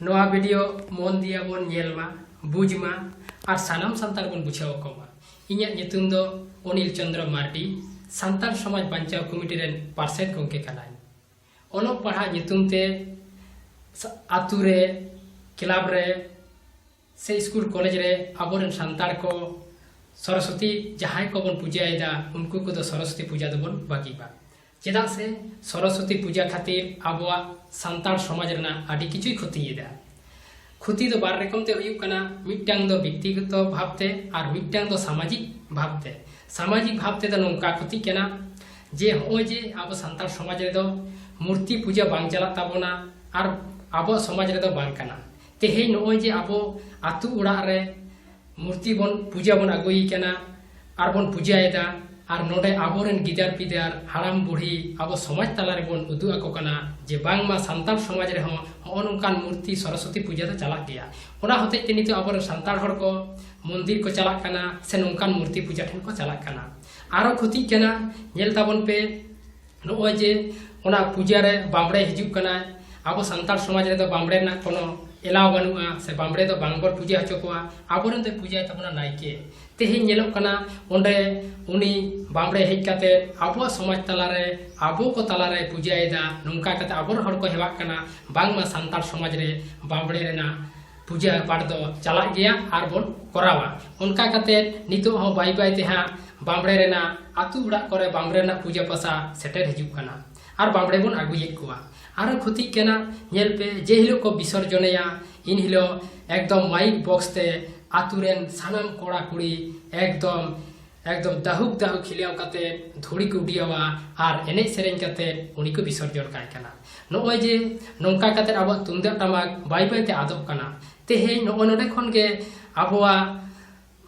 ᱱᱚᱣᱟ ᱵᱷᱤᱰᱤᱭᱳ ᱢᱚᱱ ᱫᱤᱭᱟ ᱵᱚᱱ ᱧᱮᱞ ᱢᱟ ᱵᱩᱡᱽ ᱢᱟ ᱟᱨ ᱥᱟᱱᱟᱢ ᱥᱟᱱᱛᱟᱲ ᱵᱚᱱ ᱵᱩᱡᱷᱟᱹᱣ ᱟᱠᱚ ᱢᱟ ᱤᱧᱟᱹᱜ ᱧᱩᱛᱩᱢ ᱫᱚ ᱚᱱᱤᱞ ᱪᱚᱱᱫᱨᱚ ᱢᱟᱨᱰᱤ ᱥᱟᱱᱛᱟᱲ ᱥᱚᱢᱟᱡᱽ ᱵᱟᱧᱪᱟᱣ ᱠᱚᱢᱤᱴᱤ ᱨᱮᱱ ᱯᱟᱨᱥᱮᱛ ᱜᱚᱢᱠᱮ ᱠᱟᱱᱟᱧ ᱚᱞᱚᱜ ᱯᱟᱲᱦᱟᱜ ᱧᱩᱛᱩᱢ ᱛᱮ ᱟᱛᱳ ᱨᱮ ᱠᱞᱟᱵᱽ ᱨᱮ ᱥᱮ ᱤᱥᱠᱩᱞ ᱠᱚᱞᱮᱡᱽ ᱨᱮ ᱟᱵᱚ ᱨᱮᱱ ᱥᱟᱱᱛᱟᱲ ᱠᱚ ᱥᱚᱨᱚᱥᱚᱛᱤ ᱡᱟᱦᱟᱸᱭ ᱠᱚᱵᱚᱱ ᱯᱩᱡᱟᱹᱭᱮᱫᱟ ᱩᱱᱠᱩ ᱠᱚᱫᱚ ᱥᱚᱨᱚᱥᱚᱛᱤ ᱯᱩᱡᱟᱹ ᱫᱚᱵᱚᱱ ᱵᱟᱹᱜᱤᱵᱟ ᱪᱮᱫᱟᱜ ᱥᱮ ᱥᱚᱨᱚᱥᱚᱛᱤ ᱯᱩᱡᱟᱹ ᱠᱷᱟᱹᱛᱤᱨ ᱟᱵᱚᱣᱟᱜ ᱥᱟᱱᱛᱟᱲ ᱥᱚᱢᱟᱡᱽ ᱨᱮᱱᱟᱜ ᱟᱹᱰᱤ ᱠᱤᱪᱷᱩᱭ ᱠᱷᱚᱛᱤᱭᱮᱫᱟ ᱠᱷᱚᱛᱤ ᱫᱚ ᱵᱟᱨ ᱨᱚᱠᱚᱢ ᱛᱮ ᱦᱩᱭᱩᱜ ᱠᱟᱱᱟ ᱢᱤᱫᱴᱟᱝ ᱫᱚ ᱵᱮᱠᱛᱤᱜᱚᱛᱚ ᱵᱷᱟᱵᱛᱮ ᱟᱨ ᱢᱤᱫᱴᱟᱝ ᱫᱚ ᱥᱟᱢᱟᱡᱤᱠ ᱵᱷᱟᱵᱛᱮ ᱥᱟᱢᱟᱡᱤᱠ ᱵᱷᱟᱵᱛᱮ ᱫᱚ ᱱᱚᱝᱠᱟ ᱠᱷᱚᱛᱤ ᱠᱟᱱᱟ ᱡᱮ ᱦᱚᱸᱜᱼᱚᱭ ᱡᱮ ᱟᱵᱚ ᱥᱟᱱᱛᱟᱲ ᱥᱚᱢᱟᱡᱽ ᱨᱮᱫᱚ ᱢᱩᱨᱛᱤ ᱯᱩᱡᱟᱹ ᱵᱟᱝ ᱪᱟᱞᱟᱜ ᱛᱟᱵᱚᱱᱟ ᱟᱨ ᱟᱵᱚ ᱥᱚᱢᱟᱡᱽ ᱨᱮᱫᱚ ᱵᱟᱝ ᱠᱟᱱᱟ ᱛᱮᱦᱮᱧ ᱱᱚᱜᱼᱚᱭ ᱡᱮ ᱟᱵᱚ ᱟᱛᱳ ᱚᱲᱟᱜ ᱨᱮ ᱢᱩᱨᱛᱤ ᱵᱚᱱ ᱯᱩᱡᱟᱹ ᱵᱚᱱ ᱟᱹᱜᱩᱭ ᱠᱟᱱᱟ ᱟᱨ ᱵᱚᱱ ᱯᱩᱡᱟᱹᱭᱮᱫᱟ ᱟᱨ ᱱᱚᱰᱮ ᱟᱵᱚᱨᱮᱱ ᱜᱤᱫᱟᱹᱨ ᱯᱤᱫᱟᱹᱨ ᱦᱟᱲᱟᱢ ᱵᱩᱲᱦᱤ ᱟᱵᱚ ᱥᱚᱢᱟᱡᱽ ᱛᱟᱞᱟ ᱨᱮᱵᱚᱱ ᱩᱫᱩᱜ ᱟᱠᱚ ᱠᱟᱱᱟ ᱡᱮ ᱵᱟᱝᱢᱟ ᱥᱟᱱᱛᱟᱲ ᱥᱚᱢᱟᱡᱽ ᱨᱮᱦᱚᱸ ᱦᱚᱸᱜᱼᱚ ᱱᱚᱝᱠᱟᱱ ᱢᱩᱨᱛᱤ ᱥᱚᱨᱚᱥᱚᱛᱤ ᱯᱩᱡᱟᱹ ᱫᱚ ᱪᱟᱞᱟᱜ ᱜᱮᱭᱟ ᱚᱱᱟ ᱦᱚᱛᱮᱡ ᱛᱮ ᱱᱤᱛᱚᱜ ᱟᱵᱚᱨᱮᱱ ᱥᱟᱱᱛᱟᱲ ᱦᱚᱲ ᱠᱚ ᱢᱚᱱᱫᱤᱨ ᱠᱚ ᱪᱟᱞᱟᱜ ᱠᱟᱱᱟ ᱥᱮ ᱱᱚᱝᱠᱟᱱ ᱢᱩᱨᱛᱤ ᱯᱩᱡᱟᱹ ᱴᱷᱮᱱ ᱠᱚ ᱪᱟᱞᱟᱜ ᱠᱟᱱᱟ ᱟᱨᱚ ᱠᱷᱚᱛᱤᱜ ᱠᱟᱱᱟ ᱧᱮᱞ ᱛᱟᱵᱚᱱ ᱯᱮ ᱱᱚᱜᱼᱚᱭ ᱡᱮ ᱚᱱᱟ ᱯᱩᱡᱟᱹ ᱨᱮ ᱵᱟᱢᱲᱮ ᱦᱤᱡᱩᱜ ᱠᱟᱱᱟ ᱟᱵᱚ ᱥᱟᱱᱛᱟᱲ ᱥᱚᱢᱟᱡᱽ ᱨᱮᱫᱚ ᱵᱟᱢᱲᱮ ᱨᱮᱱᱟᱜ ᱠᱳᱱᱳ ᱮᱞᱟᱣ ᱵᱟᱹᱱᱩᱜᱼᱟ ᱥᱮ ᱵᱟᱢᱲᱮ ᱫᱚ ᱵᱟᱝ ᱵᱚᱱ ᱯᱩᱡᱟᱹ ᱦᱚᱪᱚ ᱠᱚᱣᱟ ᱟᱵᱚᱨᱮᱱ ᱫᱚᱭ ᱯᱩᱡᱟᱹᱭ ᱛᱟᱵᱚᱱᱟ ᱱᱟᱭᱠᱮ ᱛᱮᱦᱮᱧ ᱧᱮᱞᱚᱜ ᱠᱟᱱᱟ ᱚᱸᱰᱮ ᱩᱱᱤ ᱵᱟᱢᱲᱮ ᱦᱮᱡ ᱠᱟᱛᱮ ᱟᱵᱚᱣᱟᱜ ᱥᱚᱢᱟᱡᱽ ᱛᱟᱞᱟᱨᱮ ᱟᱵᱚ ᱠᱚ ᱛᱟᱞᱟᱨᱮ ᱯᱩᱡᱟᱹᱭᱮᱫᱟ ᱱᱚᱝᱠᱟ ᱠᱟᱛᱮ ᱟᱵᱚᱨᱮᱱ ᱦᱚᱲ ᱠᱚ ᱦᱮᱣᱟᱜ ᱠᱟᱱᱟ ᱵᱟᱝᱢᱟ ᱥᱟᱱᱛᱟᱲ ᱥᱚᱢᱟᱡᱽ ᱨᱮ ᱵᱟᱢᱲᱮ ᱨᱮᱱᱟᱜ ᱯᱩᱡᱟᱹ ᱯᱟᱴ ᱫᱚ ᱪᱟᱞᱟᱜ ᱜᱮᱭᱟ ᱟᱨ ᱵᱚᱱ ᱠᱚᱨᱟᱣᱟ ᱚᱱᱠᱟ ᱠᱟᱛᱮ ᱱᱤᱛᱚᱜ ᱦᱚᱸ ᱵᱟᱭ ᱵᱟᱭ ᱛᱮ ᱦᱟᱸᱜ ᱵᱟᱢᱲᱮ ᱨᱮᱱᱟᱜ ᱟᱛᱳ ᱚᱲᱟᱜ ᱠᱚᱨᱮ ᱵᱟᱢᱲᱮ ᱨᱮᱱᱟᱜ ᱯᱩᱡᱟᱹ ᱯᱟᱥᱟ ᱥᱮᱴᱮᱨ ᱦᱤᱡᱩᱜ ᱠᱟᱱᱟ ᱟᱨ ᱵᱟᱢᱲᱮ ᱵᱚᱱ ᱟᱹᱜᱩᱭᱮᱫ ᱠᱚᱣᱟ ᱟᱨ ᱠᱷᱚᱛᱤᱜ ᱠᱟᱱᱟ ᱧᱮᱞ ᱯᱮ ᱡᱮ ᱦᱤᱞᱳᱜ ᱠᱚ ᱵᱤᱥᱚᱨᱡᱚᱱᱮᱭᱟ ᱤᱱ ᱦᱤᱞᱳᱜ ᱮᱠᱫᱚᱢ ᱢᱟᱭᱤᱠ ᱵᱚᱠᱥ ᱛᱮ ᱟᱛᱳ ᱨᱮᱱ ᱥᱟᱱᱟᱢ ᱠᱚᱲᱟ ᱠᱩᱲᱤ ᱮᱠᱫᱚᱢ ᱮᱠᱫᱚᱢ ᱫᱟᱦᱩᱠ ᱫᱟᱦᱩᱠ ᱠᱷᱤᱞᱟᱣ ᱠᱟᱛᱮ ᱫᱷᱩᱲᱤ ᱠᱚ ᱩᱰᱤᱭᱟᱣᱟ ᱟᱨ ᱮᱱᱮᱡ ᱥᱮᱨᱮᱧ ᱠᱟᱛᱮ ᱩᱱᱤ ᱠᱚ ᱵᱤᱥᱚᱨᱡᱚᱱ ᱠᱟᱭ ᱠᱟᱱᱟ ᱱᱚᱜᱼᱚᱭ ᱡᱮ ᱱᱚᱝᱠᱟ ᱠᱟᱛᱮ ᱟᱵᱚᱣᱟᱜ ᱛᱩᱢᱫᱟᱜ ᱴᱟᱢᱟᱠ ᱵᱟᱭ ᱵᱟᱭᱛᱮ ᱟᱫᱚᱜ ᱠᱟᱱᱟ ᱛᱮᱦᱮᱧ ᱱᱚᱜᱼᱚᱭ ᱱᱚᱰᱮ ᱠᱷᱚᱱ ᱜᱮ ᱟᱵᱚᱣᱟᱜ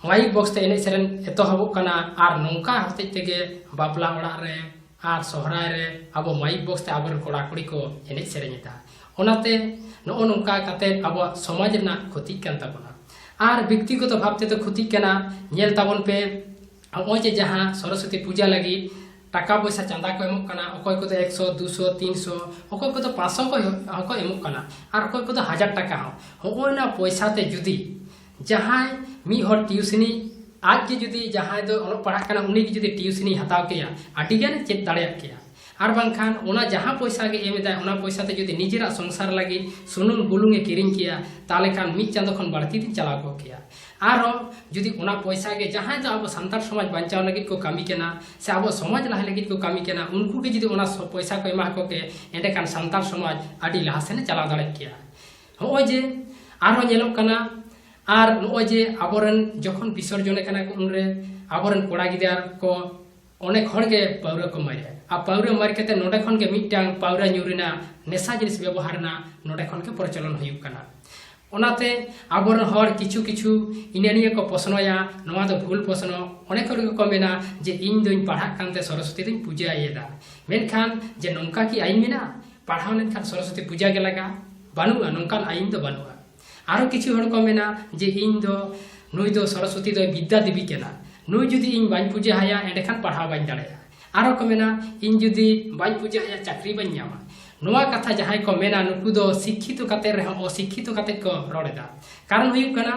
ᱢᱟᱭᱤᱠ ᱵᱚᱠᱥ ᱛᱮ ᱮᱱᱮᱡ ᱥᱮᱨᱮᱧ ᱮᱛᱚᱦᱚᱵᱚᱜ ᱠᱟᱱᱟ ᱟᱨ ᱱᱚᱝᱠᱟ ᱦᱚᱛᱮᱡ ᱛᱮᱜᱮ ᱵᱟᱯᱞᱟ ᱚᱲᱟᱜ ᱨᱮ ᱟᱨ ᱥᱚᱦᱨᱟᱭ ᱨᱮ ᱟᱵᱚ ᱢᱟᱭᱤᱠ ᱵᱚᱠᱥ ᱛᱮ ᱟᱵᱚᱨᱮᱱ ᱠᱚᱲᱟ ᱠᱩᱲᱤ ᱠᱚ ᱮᱱᱮᱡ ᱥᱮᱨᱮᱧ ᱮᱫᱟ ᱚᱱᱟᱛᱮ ᱱᱚᱜᱼᱚ ᱱᱚᱝᱠᱟ ᱠᱟᱛᱮ ᱟᱵᱚᱣᱟᱜ ᱥᱚᱢᱟᱡᱽ ᱨᱮᱱᱟᱜ ᱠᱷᱚᱛᱤᱜ ᱠᱟᱱ ᱛᱟᱵᱚᱱᱟ ᱟᱨ ᱵᱮᱠᱛᱤᱜᱚᱛᱚ ᱵᱷᱟᱵ ᱛᱮᱫᱚ ᱠᱷᱚᱛᱤᱜ ᱠᱟᱱᱟ ᱧᱮᱞ ᱛᱟᱵᱚᱱ ᱯᱮ ᱱᱚᱜᱼᱚᱭ ᱡᱮ ᱡᱟᱦᱟᱸ ᱥᱚᱨᱚᱥᱚᱛᱤ ᱯᱩᱡᱟ ᱞᱟᱹᱜᱤᱫ ᱴᱟᱠᱟ ᱯᱚᱭᱥᱟ ᱪᱟᱸᱫᱟ ᱠᱚ ᱮᱢᱚᱜ ᱠᱟᱱᱟ ᱚᱠᱚᱭ ᱠᱚᱫᱚ ᱮᱠᱥᱚ ᱫᱩᱥᱚ ᱛᱤᱱᱥᱚ ᱚᱠᱚᱭ ᱠᱚᱫᱚ ᱯᱟᱸᱪᱥᱚ ᱦᱚᱸᱠᱚ ᱮᱢᱚᱜ ᱠᱟᱱᱟ ᱟᱨ ᱚᱠᱚᱭ ᱠᱚᱫᱚ ᱦᱟᱡᱟᱨ ᱴᱟᱠᱟ ᱦᱚᱸ ᱦᱚᱜᱼᱚᱭ ᱱᱟ ᱯᱚᱭᱥᱟ ᱛᱮ ᱡᱩᱫᱤ ᱡᱟᱦᱟᱸᱭ ᱢᱤᱫ ᱦᱚᱲ ᱴᱤᱭᱩᱥᱤᱱᱤ ᱟᱡ ᱜᱮ ᱡᱩᱫᱤ ᱡᱟᱦᱟᱸᱭ ᱫᱚ ᱚᱞᱚᱜ ᱯᱟᱲᱦᱟᱜ ᱠᱟᱱᱟ ᱩᱱᱤ ᱜᱮ ᱡᱩᱫᱤ ᱴᱤᱭᱩᱥᱤᱱᱤ ᱦᱟᱛᱟᱣ ᱠᱮᱭᱟ ᱟᱹᱰᱤ ᱜᱟᱱ ᱪᱮᱫ ᱫᱟᱲᱮᱭᱟᱜ ᱠᱮᱭᱟ ᱟᱨ ᱵᱟᱝᱠᱷᱟᱱ ᱚᱱᱟ ᱡᱟᱦᱟᱸ ᱯᱚᱭᱥᱟ ᱜᱮ ᱮᱢ ᱮᱫᱟᱭ ᱚᱱᱟ ᱯᱚᱭᱥᱟ ᱛᱮ ᱡᱩᱫᱤ ᱱᱤᱡᱮᱨᱟᱜ ᱥᱚᱝᱥᱟᱨ ᱞᱟᱹᱜᱤᱫ ᱥᱩᱱᱩᱢ ᱵᱩᱞᱩᱝ ᱮ ᱠᱤᱨᱤᱧ ᱠᱮᱭᱟ ᱛᱟᱦᱞᱮ ᱠᱷᱟᱱ ᱢᱤᱫ ᱪᱟᱸᱫᱚ ᱠᱷᱚᱱ ᱵᱟᱹᱲᱛᱤ ᱫᱤᱱ ᱪᱟᱞᱟᱣ ᱠᱚᱜ ᱠᱮᱭᱟ ᱟᱨᱦᱚᱸ ᱡᱩᱫᱤ ᱚᱱᱟ ᱯᱚᱭᱥᱟ ᱜᱮ ᱡᱟᱦᱟᱸᱭ ᱫᱚ ᱟᱵᱚ ᱥᱟᱱᱛᱟᱲ ᱥᱚᱢᱟᱡᱽ ᱵᱟᱧᱪᱟᱣ ᱞᱟᱹᱜᱤᱫ ᱠᱚ ᱠᱟᱹᱢᱤ ᱠᱟᱱᱟ ᱥᱮ ᱟᱵᱚ ᱥᱚᱢᱟᱡᱽ ᱞᱟᱦᱟ ᱞᱟᱹᱜᱤᱫ ᱠᱚ ᱠᱟᱹᱢᱤ ᱠᱟᱱᱟ ᱩᱱᱠᱩ ᱜᱮ ᱡᱩᱫᱤ ᱚᱱᱟ ᱯᱚᱭᱥᱟ ᱠᱚ ᱮᱢᱟ ᱠᱚ ᱠᱮ ᱮᱸᱰᱮᱠᱷᱟᱱ ᱥᱟᱱᱛᱟᱲ ᱥᱚᱢᱟᱡᱽ ᱟᱹᱰᱤ ᱞᱟᱦᱟ ᱥᱮᱱ ᱪᱟᱞᱟᱣ ᱫᱟᱲᱮ ᱠᱮᱭᱟ ᱱᱚᱜᱼᱚᱭ ᱡᱮ ᱟᱨᱦᱚᱸ ᱧᱮᱞᱚᱜ ᱠᱟᱱᱟ ᱟᱨ ᱱᱚᱜᱼᱚᱭ ᱡᱮ ᱟᱵᱚᱨᱮᱱ ᱡᱚᱠᱷᱚᱱ ᱵᱤᱥᱚᱨᱡᱚᱱᱮ ᱠᱟᱱᱟ ᱠᱚ ᱩᱱᱨᱮ ᱟᱵᱚᱨᱮᱱ ᱠᱚᱲᱟ ᱜᱤᱫᱽᱨᱟᱹ ᱠᱚ ᱚᱱᱮᱠ ᱦᱚᱲ ᱜᱮ ᱯᱟᱹᱣᱨᱟᱹ ᱠᱚ ᱢᱟᱨᱮᱜᱼᱟ ᱟᱨ ᱯᱟᱹᱣᱨᱟᱹ ᱢᱟᱨ ᱠᱟᱛᱮ ᱱᱚᱰᱮ ᱠᱷᱚᱱ ᱜᱮ ᱢᱤᱫᱴᱟᱝ ᱯᱟᱹᱣᱨᱟᱹ ᱧᱩ ᱨᱮᱱᱟᱜ ᱱᱮᱥᱟ ᱡᱤᱱᱤᱥ ᱵᱮᱵᱚᱦᱟᱨ ᱨᱮᱱᱟᱜ ᱱᱚᱰᱮ ᱠᱷᱚᱱ ᱜᱮ ᱯᱨᱚᱪᱚᱞᱚᱱ ᱦᱩᱭᱩᱜ ᱠᱟᱱᱟ ᱚᱱᱟᱛᱮ ᱟᱵᱚᱨᱮᱱ ᱦᱚᱲ ᱠᱤᱪᱷᱩ ᱠᱤᱪᱷᱩ ᱤᱱᱟᱹ ᱱᱤᱭᱟᱹ ᱠᱚ ᱯᱚᱥᱱᱚᱭᱟ ᱱᱚᱣᱟ ᱫᱚ ᱵᱷᱩᱞ ᱯᱚᱥᱱᱚ ᱚᱱᱮᱠ ᱦᱚᱲ ᱜᱮᱠᱚ ᱢᱮᱱᱟ ᱡᱮ ᱤᱧ ᱫᱚᱧ ᱯᱟᱲᱦᱟᱜ ᱠᱟᱱᱛᱮ ᱥᱚᱨᱚᱥᱚᱛᱤ ᱫᱚᱧ ᱯᱩᱡᱟᱹᱭᱮᱫᱟ ᱢᱮᱱᱠᱷᱟᱱ ᱡᱮ ᱱᱚᱝᱠᱟ ᱠᱤ ᱟᱹᱭᱤᱱ ᱢᱮᱱᱟᱜᱼᱟ ᱯᱟᱲᱦᱟᱣ ᱞᱮᱱᱠᱷᱟᱱ ᱥᱚᱨᱚᱥᱚᱛᱤ ᱯᱩᱡᱟ ᱜᱮ ᱞᱟᱜᱟ ᱵᱟᱹᱱᱩᱜᱼᱟ ᱱᱚᱝᱠᱟᱱ ᱟᱭᱤᱱ ᱫᱚ ᱵᱟᱹᱱᱩᱜᱼᱟ ᱟᱨᱚ ᱠᱤᱪᱷᱩ ᱦᱚᱲ ᱠᱚ ᱢᱮᱱᱟ ᱡᱮ ᱤᱧ ᱫᱚ ᱱᱩᱭ ᱫᱚ ᱥᱚᱨᱚᱥᱚᱛᱤ ᱫᱚ ᱵᱤᱫᱽᱫᱟ ᱫᱮᱵᱤ ᱠᱟᱱᱟ ᱱᱩᱭ ᱡᱩᱫᱤ ᱤᱧ ᱵᱟᱹᱧ ᱯᱩᱡᱟ ᱦᱟᱭᱟ ᱮᱸᱰᱮᱠᱷᱟᱱ ᱯᱟᱲᱦᱟᱣ ᱵᱟᱹᱧ ᱫᱟᱲᱮᱭᱟᱜᱼᱟ ᱟᱨᱚ ᱠᱚ ᱢᱮᱱᱟ ᱤᱧ ᱡᱩᱫᱤ ᱵᱟᱹᱧ ᱯᱩᱡᱟ ᱦᱟᱭᱟ ᱪᱟᱹᱠᱨᱤ ᱵᱟᱹᱧ ᱧᱟᱢᱟ ᱱᱚᱣᱟ ᱠᱟᱛᱷᱟ ᱡᱟᱦᱟᱸᱭ ᱠᱚ ᱢᱮᱱᱟ ᱱᱩᱠᱩ ᱫᱚ ᱥᱤᱠᱠᱷᱤᱛᱚ ᱠᱟᱛᱮ ᱨᱮᱦᱚᱸ ᱚᱥᱤᱠᱠᱷᱤᱛᱚ ᱠᱟᱛᱮ ᱠᱚ ᱨᱚᱲ ᱮᱫᱟ ᱠᱟᱨᱚᱱ ᱦᱩᱭᱩᱜ ᱠᱟᱱᱟ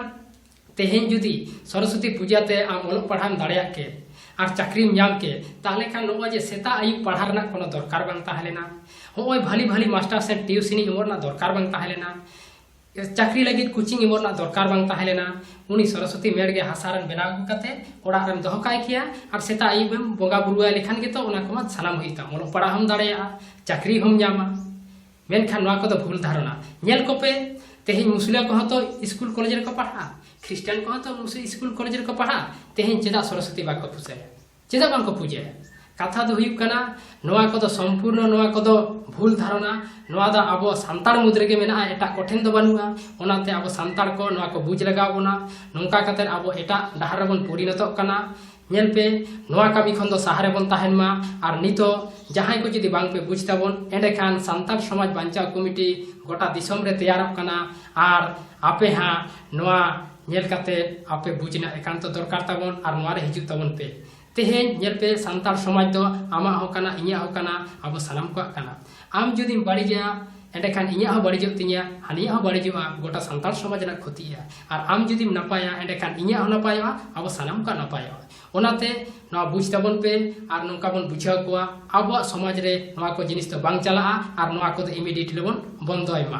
ᱛᱮᱦᱮᱧ ᱡᱩᱫᱤ ᱥᱚᱨᱚᱥᱚᱛᱤ ᱯᱩᱡᱟ ᱛᱮ ᱟᱢ ᱚᱞᱚᱜ ᱯᱟᱲᱦᱟᱣ ᱫᱟᱲᱮᱭᱟᱜ ᱠᱮ ᱟᱨ ᱪᱟᱹᱠᱨᱤᱢ ᱧᱟᱢ ᱠᱮ ᱛᱟᱦᱞᱮ ᱠᱷᱟᱱ ᱱᱚᱜᱼᱚᱭ ᱡᱮ ᱥᱮᱛᱟᱜ ᱟᱹᱭᱩᱵ ᱯᱟᱲᱦᱟᱣ ᱨᱮᱱᱟᱜ ᱠᱳᱱᱳ ᱫᱚᱨᱠᱟᱨ ᱵᱟᱝ ᱛᱟᱦᱮᱸ ᱞᱮᱱᱟ ᱱᱚᱜᱼᱚᱭ ᱵᱷᱟᱞᱤ ᱵᱷᱟᱞᱤ ᱢᱟᱥᱴᱟᱨ ᱥᱮ ᱴᱤᱭᱩᱥᱤᱱᱤ ᱮᱢᱚᱜ ᱨᱮᱱᱟᱜ ᱫᱚᱨᱠᱟᱨ ᱵᱟᱝ ᱛᱟᱦᱮᱸ ᱞᱮᱱᱟ ᱪᱟᱹᱠᱨᱤ ᱞᱟᱹᱜᱤᱫ ᱠᱳᱪᱤᱝ ᱮᱢᱚᱜ ᱨᱮᱱᱟᱜ ᱫᱚᱨᱠᱟᱨ ᱵᱟᱝ ᱛᱟᱦᱮᱸ ᱞᱮᱱᱟ ᱩᱱᱤ ᱥᱚᱨᱚᱥᱚᱛᱤ ᱢᱮᱲ ᱜᱮ ᱦᱟᱥᱟ ᱨᱮᱱ ᱵᱮᱱᱟᱣ ᱟᱹᱜᱩ ᱠᱟᱛᱮ ᱚᱲᱟᱜ ᱨᱮᱢ ᱫᱚᱦᱚ ᱠᱟᱭ ᱠᱮᱭᱟ ᱟᱨ ᱥᱮᱛᱟᱜ ᱟᱹᱭᱩᱵ ᱮᱢ ᱵᱚᱸᱜᱟ ᱵᱩᱨᱩᱣᱟᱭ ᱞᱮᱠᱷᱟᱱ ᱜᱮᱛᱚ ᱚᱱᱟ ᱠᱚᱢᱟ ᱥᱟᱱᱟᱢ ᱦᱩᱭᱩᱜ ᱛᱟᱢ ᱚᱞᱚᱜ ᱯᱟᱲᱦᱟᱣ ᱦᱚᱸᱢ ᱫᱟᱲᱮᱭᱟᱜᱼᱟ ᱪᱟᱹᱠᱨᱤ ᱦᱚᱸᱢ ᱧᱟᱢᱟ ᱢᱮᱱᱠᱷᱟᱱ ᱱᱚᱣᱟ ᱠᱚᱫᱚ ᱵᱷᱩᱞ ᱫᱷᱟᱨᱚᱱᱟ ᱧᱮᱞ ᱠᱚᱯᱮ ᱛᱮᱦᱮᱧ ᱢᱩᱥᱞᱤᱢ ᱠᱚᱦᱚᱸ ᱛᱚ ᱥᱠᱩᱞ ᱠᱚᱞᱮᱡᱽ ᱨᱮᱠᱚ ᱯᱟᱲᱦᱟᱜᱼᱟ ᱠᱷᱨᱤᱥᱴᱟᱱ ᱠᱚᱦᱚᱸ ᱛᱚ ᱢᱩᱥᱞᱤᱢ ᱥᱠᱩᱞ ᱠᱚᱞᱮᱡᱽ ᱨᱮᱠᱚ ᱯᱟᱲᱦᱟᱜᱼᱟ ᱛᱮᱦᱮᱧ ᱪᱮᱫᱟᱜ ᱥᱚᱨᱚᱥᱚᱛᱤ ᱵᱟᱠᱚ ᱯᱩᱡᱟᱹᱭᱟ ᱪᱮᱫᱟᱜ ᱵᱟᱝᱠᱚ ᱯᱩᱡᱟᱹᱭᱟ ᱠᱟᱛᱷᱟ ᱫᱚ ᱦᱩᱭᱩᱜ ᱠᱟᱱᱟ ᱱᱚᱣᱟ ᱠᱚᱫᱚ ᱥᱚᱢᱯᱩᱨᱱᱚ ᱱᱚᱣᱟ ᱠᱚᱫᱚ ᱵᱷᱩᱞ ᱫᱷᱟᱨᱚᱱᱟ ᱱᱚᱣᱟ ᱫᱚ ᱟᱵᱚ ᱥᱟᱱᱛᱟᱲ ᱢᱩᱫᱽ ᱨᱮᱜᱮ ᱢᱮᱱᱟᱜᱼᱟ ᱮᱴᱟᱜ ᱠᱚᱴᱷᱮᱱ ᱫᱚ ᱵᱟᱹᱱᱩᱜᱼᱟ ᱚᱱᱟᱛᱮ ᱟᱵᱚ ᱥᱟᱱᱛᱟᱲ ᱠᱚ ᱱᱚᱣᱟ ᱠᱚ ᱵᱩᱡᱽ ᱞᱟᱜᱟᱣ ᱵᱚᱱᱟ ᱱᱚᱝᱠᱟ ᱠᱟᱛᱮ ᱟᱵᱚ ᱮᱴᱟᱜ ᱰᱟᱦᱟᱨ ᱨᱮᱵᱚᱱ ᱯᱚᱨᱤᱱᱚᱛᱚᱜ ᱠᱟᱱᱟ ᱧᱮᱞ ᱯᱮ ᱱᱚᱣᱟ ᱠᱟᱹᱢᱤ ᱠᱷᱚᱱ ᱫᱚ ᱥᱟᱦᱟ ᱨᱮᱵᱚᱱ ᱛᱟᱦᱮᱱ ᱢᱟ ᱟᱨ ᱱᱤᱛᱚᱜ ᱡᱟᱦᱟᱸᱭ ᱠᱚ ᱡᱩᱫᱤ ᱵᱟᱝ ᱯᱮ ᱵᱩᱡᱽ ᱛᱟᱵᱚᱱ ᱮᱸᱰᱮ ᱠᱷᱟᱱ ᱥᱟᱱᱛᱟᱲ ᱥᱚᱢᱟᱡᱽ ᱵᱟᱧᱪᱟᱣ ᱠᱚᱢᱤᱴᱤ ᱜᱚᱴᱟ ᱫᱤᱥᱚᱢ ᱨᱮ ᱛᱮᱭᱟᱨᱚᱜ ᱠᱟᱱᱟ ᱟᱨ ᱟᱯᱮ ᱦᱟᱸᱜ ᱱᱚᱣᱟ ᱧᱮᱞ ᱠᱟᱛᱮ ᱟᱯᱮ ᱵᱩᱡᱽ ᱨᱮᱱᱟᱜ ᱮᱠᱟᱱᱛᱚ ᱫᱚᱨᱠᱟᱨ ᱛᱟᱵᱚᱱ ᱟᱨ ᱱᱚᱣᱟ ᱨᱮ ᱦᱤᱡᱩᱜ ᱛᱟᱵᱚᱱ ᱯᱮ ᱛᱮᱦᱮᱧ ᱧᱮᱞ ᱯᱮ ᱥᱟᱱᱛᱟᱲ ᱥᱚᱢᱟᱡᱽ ᱫᱚ ᱟᱢᱟᱜ ᱦᱚᱸ ᱠᱟᱱᱟ ᱤᱧᱟᱹᱜ ᱦᱚᱸ ᱠᱟᱱᱟ ᱟᱵᱚ ᱥᱟᱱᱟᱢ ᱠᱚᱣᱟᱜ ᱠᱟᱱᱟ ᱟᱢ ᱡᱩᱫᱤᱢ ᱵᱟᱹᱲᱤᱡᱟ ᱮᱸᱰᱮ ᱠᱷᱟᱱ ᱤᱧᱟᱹᱜ ᱦᱚᱸ ᱵᱟᱹᱲᱤᱡᱚᱜ ᱛᱤᱧᱟ ᱦᱟᱹᱱᱤᱭᱟᱜ ᱦᱚᱸ ᱵᱟᱹᱲᱤᱡᱚᱜᱼᱟ ᱜᱚᱴᱟ ᱥᱟᱱᱛᱟᱲ ᱥᱚᱢᱟᱡᱽ ᱨᱮᱱᱟᱜ ᱠᱷᱚᱛᱤᱜᱼᱟ ᱟᱨ ᱟᱢ ᱡᱩᱫᱤᱢ ᱱᱟᱯᱟᱭᱟ ᱮᱸᱰᱮ ᱠᱷᱟᱱ ᱤᱧᱟᱹᱜ ᱦᱚᱸ ᱱᱟᱯᱟᱭᱚᱜᱼᱟ ᱟᱵᱚ ᱥᱟᱱᱟᱢ ᱠᱚᱣᱟᱜ ᱱᱟᱯᱟᱭᱚᱜᱼᱟ ᱚᱱᱟᱛᱮ ᱱᱚᱣᱟ ᱵᱩᱡᱽ ᱛᱟᱵᱚᱱ ᱯᱮ ᱟᱨ ᱱᱚᱝᱠᱟ ᱵᱚᱱ ᱵᱩᱡᱷᱟᱹᱣ ᱠᱚᱣᱟ ᱟᱵᱚᱣᱟᱜ ᱥᱚᱢᱟᱡᱽ ᱨᱮ ᱱᱚᱣᱟ ᱠᱚ ᱡᱤᱱᱤᱥ ᱫᱚ ᱵᱟᱝ ᱪᱟᱞᱟᱜᱼᱟ ᱟᱨ ᱱᱚᱣᱟ ᱠᱚᱫᱚ ᱤᱢᱤᱰᱤᱭᱮᱴᱞᱤ ᱵᱚᱱ ᱵᱚᱱᱫᱚᱭ ᱢᱟ